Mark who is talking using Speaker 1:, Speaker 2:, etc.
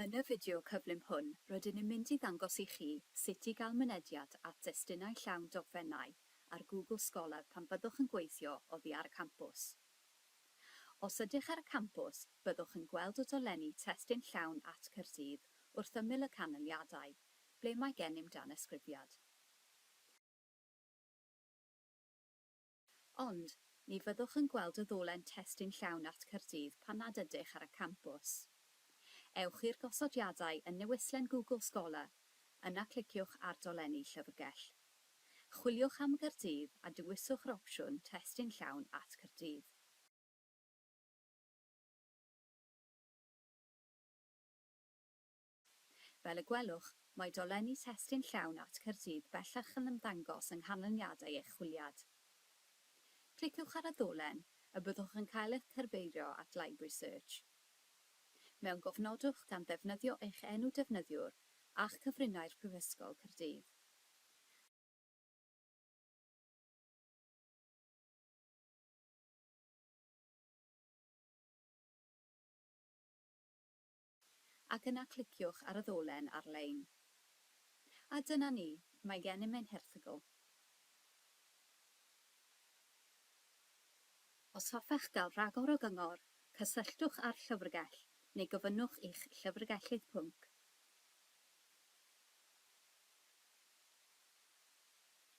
Speaker 1: Yn y fideo cyflym hwn, rydyn ni'n mynd i ddangos i chi sut i gael mynediad at destunau llawn dogfennau ar Google Scholar pan fyddwch yn gweithio oddi ar y campws. Os ydych ar y campws, byddwch yn gweld y dolenni Testun Llawn at Caerdydd wrth ymyl y canlyniadau, ble mae gennym danysgrifiad. Ond, ni fyddwch yn gweld y ddolen testun llawn at Caerdydd pan nad ydych ar y campws. Ewch i'r gosodiadau yn newislen Google Scholar, yna cliciwch ar Dolenni Llyfrgell. Chwiliwch am Gaerdydd a dewiswch yr opsiwn Testun Llawn at Caerdydd. Fel y gwelwch, mae dolenni testun llawn Art Caerdydd bellach yn ymddangos yng nghanlyniadau eich chwiliad. Cliciwch ar y ddolen, y byddwch yn cael eich cyrbeiddio at Library Search. Mewngofnodwch gan ddefnyddio eich enw defnyddiwr a'ch cyfrinair Prifysgol Caerdydd. ac yna cliciwch ar y ddolen ar-lein. A dyna ni, mae gennym ein herthygl. Os hoffech gael rhagor o gyngor, cysylltwch â'r llyfrgell neu gofynnwch i'ch llyfrgellydd pwnc.